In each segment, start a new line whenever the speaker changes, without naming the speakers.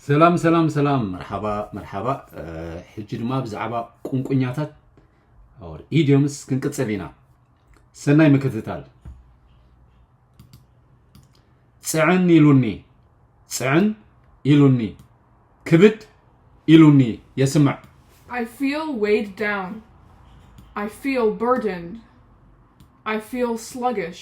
ሰላም ሰላም ሰላም መርሓባ መርሓባ ሕጂ ድማ ብዛዕባ ቁንቁኛታት ኢዲዮምስ ክንቅፅል ኢና ሰናይ ምክትታል ፅዕን ኢሉኒ ፅዕን ኢሉኒ ክብድ ኢሉኒ የስምዕ I feel
weighed down. I feel burdened. I feel sluggish.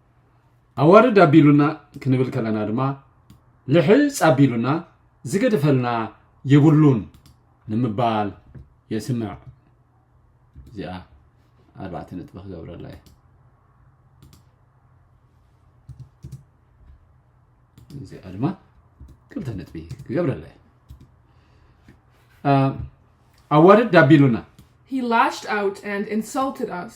ኣዋርድ ኣቢሉና ክንብል ከለና ድማ ልሕፅ ኣቢሉና ዝገድፈልና የብሉን ንምባል የስምዕ እዚኣ ኣርባዕተ ነጥቢ ክገብረላ እየ እዚኣ ድማ ክልተ ነጥቢ ክገብረላ እየ ኣዋርድ ኣቢሉና He lashed
out and insulted us.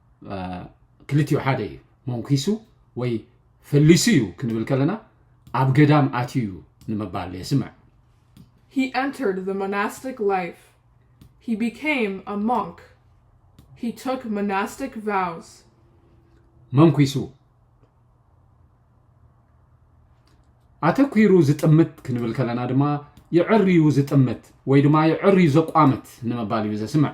ክልቲኡ ሓደ እዩ መንኪሱ ወይ ፈሊሱ እዩ ክንብል ከለና ኣብ ገዳም ኣትዩ እዩ ንምባል የስምዕ He
entered the monastic life. He became a monk. He took monastic vows.
መንኪሱ ኣተኲሩ ዝጥምት ክንብል ከለና ድማ ይዕርዩ ዝጥምት ወይ ድማ ይዕርዩ ዘቋምት ንምባል እዩ ዘስምዕ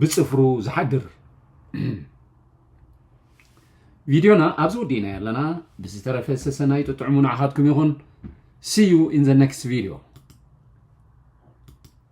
ብጽፍሩ
ዝሓድር ቪድዮና ኣብዚ ውዲእናዮ ኣለና ብዝተረፈ ሰሰናይ ጥጥዕሙ ንዓኻትኩም ይኹን ሲዩ ኢን ዘ ነክስት ቪድዮ